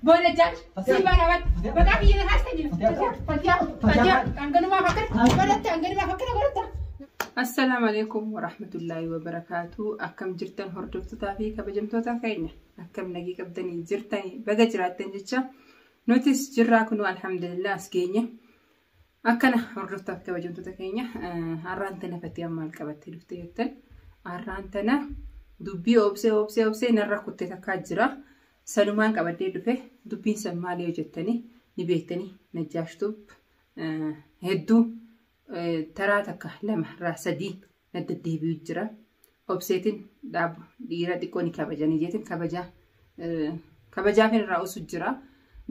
Booda jaaj sii baana bat maqaa biyya na haastan jira fatiyaa fatiyaa fatiyaa hanganumaa fakkata godhatta hanganumaa fakkata godhatta. Assalaamu alaikum warahmatullaahi wabarakaatu akkam jirtan hordoftotaa fi kabajamtoota keenya akkam nagii qabdanii jirtanii baga jiraattan jecha nutis jirraa kunuu alhamdulillah as geenye Akkana hordoftaaf kabajamtoota keenya har'aan tana fakkii maal qabattee dhuftee jettan har'aan tana dubbii obsee obsee obsee narra kuttee takkaa jira sanumaan qabaddee dhufe dubbiin san maal yoo jettanii ni beektanii najjaashtuuf hedduu taraa takka lama irraa sadii na deddeebi'u jira. Obseetiin dhaaba dhiira xiqqoo ni kabajanii jeetiin kabajaa kabajaa kan irraa usu jira.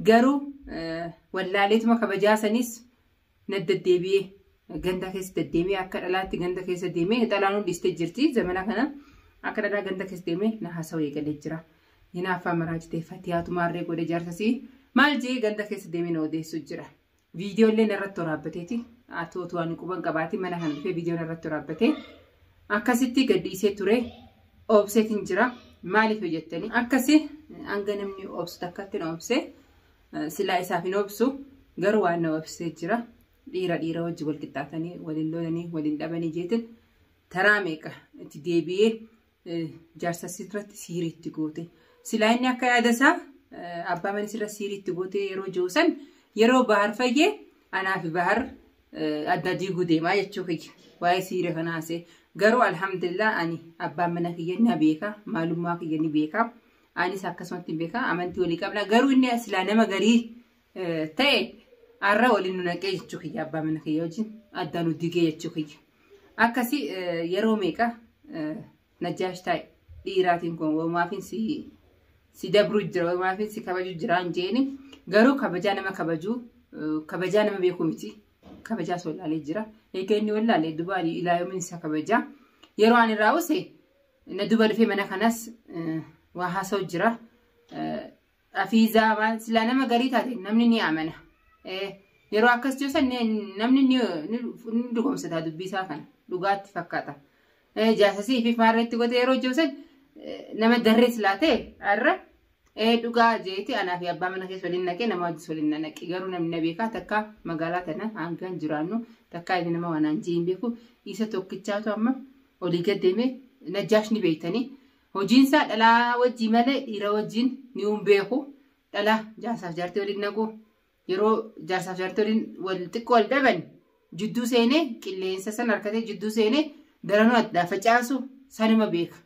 Garuu wallaaleetuma kabajaa sanis na deddeebi'ee ganda keessa deddeemee akka dhalaatti ganda keessa deemee dhalaan hundistee jirti zamana kana akka dhalaa ganda keessa deemee na haasawee galee jira. Hinaaffaa maraa jitee fatiyaatu maarree godhe jaarsasii maal jee ganda keessa deemee na odeessu jira. Viidiyoo illee narratti waraabbateeti. Ati otoo ani quban qabaati mana kana dhufee viidiyoo narratti waraabbatee akkasitti gadhiisee ture obseetiin jira. Maaliif hojjettanii akkasi hanga namni obsu takkatti na obse silaa isaaf hin obsu garuu waan na obsee jira. Dhiira dhiira wajji wal qixxaatanii waliin lolanii waliin dhabanii jeetiin taraa meeqa itti deebi'ee jaarsa sirratti siirii itti goote. Silaa inni akka yaada isaa abbaa mana sirra siirii itti goote yeroo jiru san yeroo bahar fayyee anaa fi bahar adda diiguu deemaa jechuu kiyya. Waa'ee siirii kana haasee garuu alhamdulillah ani abbaan mana kiyya na beeka maalummaa kiyya ni beeka. Anis akkasumatti beeka amantii walii qabna garuu inni silaa nama garii ta'e arra waliin nu naqee jechuu kiyya abbaa mana kiyya wajjin adda nu digee jechuu kiyya. Akkasii yeroo meeqa najjaash taa'e dhiiraatiin kun wamaafiin si si dabruu jira wamaafiin si kabajuu jira hin jeeni garuu kabajaa nama kabajuu kabajaa nama beekuu miti kabajaa soo ilaalee jira egaa inni wallaalee dubaanii ilaa yoomiin isa kabajaa yeroo ani irraa use na duba dhufee mana kanas waa haasa'u jira Afiizaa maal silaa nama garii taate namni ni amana. Yeroo akkas joosan namni ni dhugoomsata dubbiisaa kana dhugaatti fakkaata. Jaasasii fi maarreetti godhe yeroo joosan nama darree silaa ta'e har'a dhugaa jeeti anaa fi abbaa mana keessa waliin naqee nama wajjis waliin na naqe garuu namni na beekaa takka magaalaa tana hangaan jiraannu takka inni nama wanaan jee hin beeku isa tokkichaatu amma olii gad deemee najjaash ni beektanii Hojiin isaa dhalaa wajjii malee dhiira wajjiin niun beeku dhala jaarsaaf jaartii waliin naqu yeroo jaarsaaf jaartii waliin wal xiqqoo wal dhaban jidduu seenee qilleensa san harkatee jidduu seenee daranuu addaa facaasu sanuma beeka.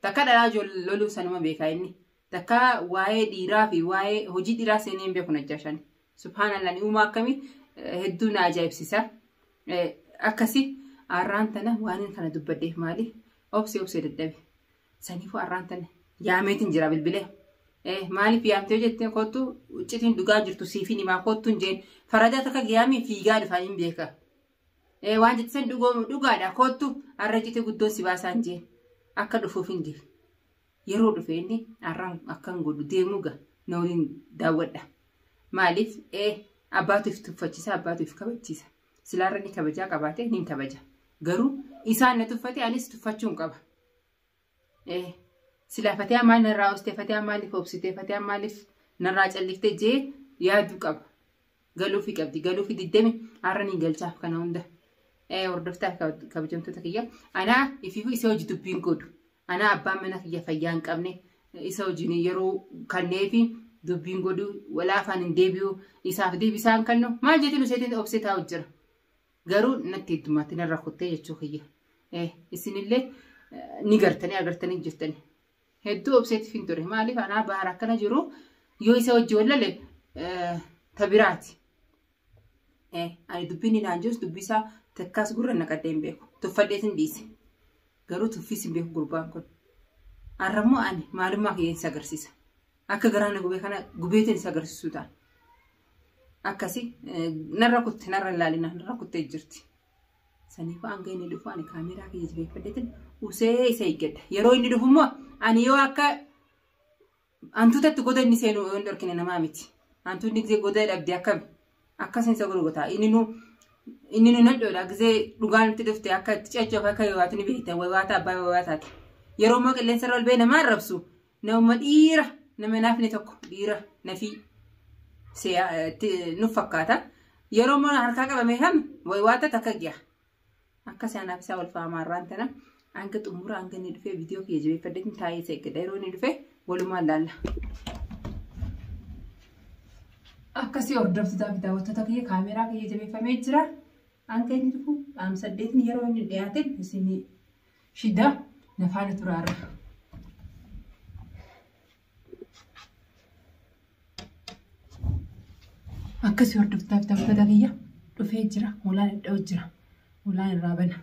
Takka dhalaa loluu sanuma beekaa inni. Takkaa waa'ee dhiiraa fi waa'ee hojii dhiiraa seenee hin beeku najjaashaan. Subhaanallah ni uumaa akkamii hedduu na ajaa'ibsiisa. Akkasi arraan tana waan kana dubbadheef maali obsee obsee dadhabe. Saniifuu arraan tana yaameetiin jira bilbilee. Maaliif yaamtee jettee kottu uccitiin dhugaa jirtu siifin himaa kottuun jeen faradaa takka giyaamii fiigaa dhufaa hin beeka. Waan jettee san dhugaadha kottu arra citee guddoon si baasaan jeen akka dhufuuf hin jeen. Yeroo dhufe inni arraan akkan godhu deemuu ga na waliin daawwadha. Maaliif ee abbaatu if tuffachiisa abbaatu if kabachiisa. Silaarra inni kabajaa qabaate nin kabaja. Garuu isaan na tuffate anis tuffachuun qaba. Ee silaa fatiyaa maal narraa oostee fatiyaa maaliif obsitee fatiyaa maaliif narraa calliftee jee yaaduu qaba. galuufi qabdi galuufi diddemi har'a ni galchaaf kana hunda Eh, hordoftaa kab- kabajamtoota kiyya anaa ifiifu isa hojii dubbiin godhu anaa abbaan mana kiyya fayyaa hin qabne isa hojiin yeroo kanneefi dubbiin godhu walaa afaan hin deebi'u isaaf deebisaan kannu maal jechuun isheetiin obsee taa'u jira garuu natti heddumaatti narra kuttee jechuu kiyya Eh, isinillee eh, ni gartanii agartanii jirtanii Hedduu obseetiif hin ture. Maaliif anaa bahar akkana jiru yoo isa wajji wallale ta biraati. Ani dubbiin inni naan jirus dubbii isaa takkaas gurra naqadhee hin beeku. Tuffadhees hin dhiise. Garuu tuffiis hin beeku gurbaan kun. Har'ammoo ani maalummaa kiyya isa agarsiisa. Akka garaa na gubee kana gubeetiin isa agarsiisuu ta'a. Akkasii narra kutte narra hin laalina narra kuttee jirti. Saniifuu hanga inni dhufu ani kaameeraa kiyya jabeeffadheetin usee isa eeggadha. Yeroo inni dhufu immoo ani yoo akka hantuutatti goda inni seenu yoo hin dhorkine namaa miti. Hantuunni gizee goda dhabde akkami? Akka seensa godhu gotaa. Inni nu inni nu nadhoodha gizee dhugaa nutti dhufte akka itti ceechuuf akka yoo waati ni beekta wawaata abbaa wawaataati. Yeroo immoo qilleensa irra ol ba'ee namaa arrabsu Nama dhiira nama naafne tokko dhiira nafii nuuf fakkaata. Yeroo mana harkaa qabame kan waata takka giya. Akka isaanaaf isaa wal faamaa irraan tana hanga xumura hanga inni dhufee viidiyoo kiyya jabeeffadheetiin taa'ee isa eeggada. Yeroo inni dhufee walumaan laalla. Akkasii hordoftoota kitaabota kiyya kaameeraa kiyya jabeeffamee jira. Hanga inni dhufu qaama saddeetiin yeroo inni dhiyaateen isinii Shidda na faana tura irra. Akkasii hordoftaa bitamtoota kiyya dhufee jira. Hoolaan iddoo jira. Hoolaan irraa bana.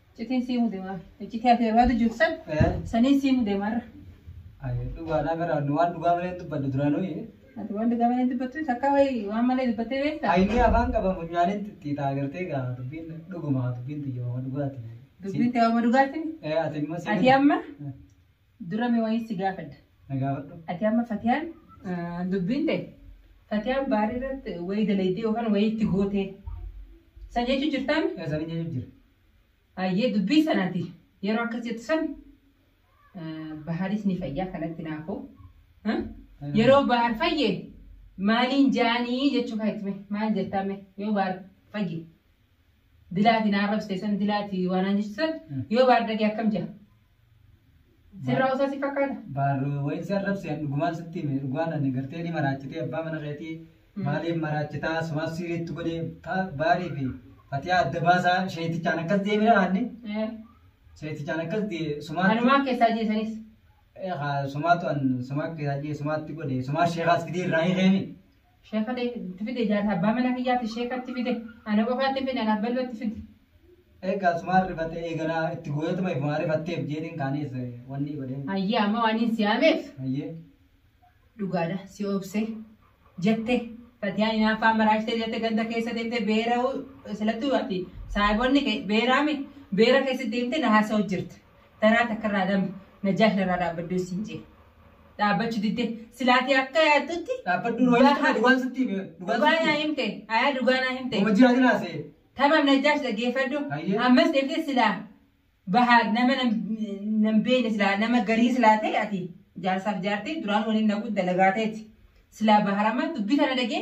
Citiin sii mude maal? Iccitii ati barbaadu jirtu san saniin sii mude marra. Ayi dhugaadhaa gara nu waan dhugaa malee dubbadde duraanuu. Ati waan dhugaa malee dubbattu takka wayi waan malee dubbattee beektaa? Ayinni afaan qaba funyaanin xixiitaa agartee gaa dubbiin dhuguma dubbiin xiyyooma dhugaati. Dubbiin ta'e amma dhugaatiin Ee ati immoo sii. ati amma Dura mee wayii si gaafadha. Na gaafadhu. Ati amma Fatiyaan ah, dubbiin ta'e Fatiyaan baarii irratti wayii dalaydee yookaan wayii itti gootee san jechuu jirtaan Yaa isaanii jechuun jira. hayyee dubbii sanaati yeroo akkas jettu san ah, bahaaris ni fayyaa kanatti naafuu ah, yeroo bahaar fayye maaliin jaanii jechuu kan itti mee maal jettaa mee yoo bahaar fayye Dilaati na arrabsite san dilaati waa naan jechu san yoo baardage akkam jira? Sirraa osaa si fakkaata? Baarroo wayiin si arrabse an dhugumaan sitti hime dhugaan ani gartee ni maraachitee abbaa mana keetii maaliif maraachitaa sumaaf siiriitti godhe ta- baarii fi fatiyaa adda baasaa sheetichaan akkas deemina aanni Eh, sheetichaan akkas dee sumaatti Kanumaa keessaa jeesanis. Eh, haa, sumaatu an sumaa keessaa jee sumaatti godhe sumaa sheekaas fidee irraa hiikeemi. Sheeka itti fide jaarsa abbaa mana kiyyaati sheeka itti fide ana qofaatti hin fide anaaf bal'oo itti fide. Egaa sumaan rifatte eeganaa itti gooyatuma ifumaa rifatteef jeetiin kaanis wanni godheen. Hayyee amma waan hin siyaameef Hayyee. dhugaadha si obse jette fatiyaan inaaffaan maraashitee jette ganda keessa deemte beera silattuu ati saahibonni kee beeraami beera keessa deemte na haasa'u jirte. Taraa takkarraa dame najaash narraa dhaabbaddu siin jee. Dhaabbachu didde silaatii akka yaaddutti Dhaabbaddu dhugaa Dhugaa- jechuudha dhugaan sitti hime. dhugaa Dhugaan naa sitti himte ayaa dhugaa naa himte. Homa jiraatin haasa'e. Tamam najaash dhaggeeffadhu. Hayyee. Ammas deemtee silaa bahaa nama nam- nam beekne silaa nama garii silaa ta'e ati jaarsaaf jaartee duraan waliin naquu dalagaa ta'eeti. Silaa baharama dubbii tana dhagee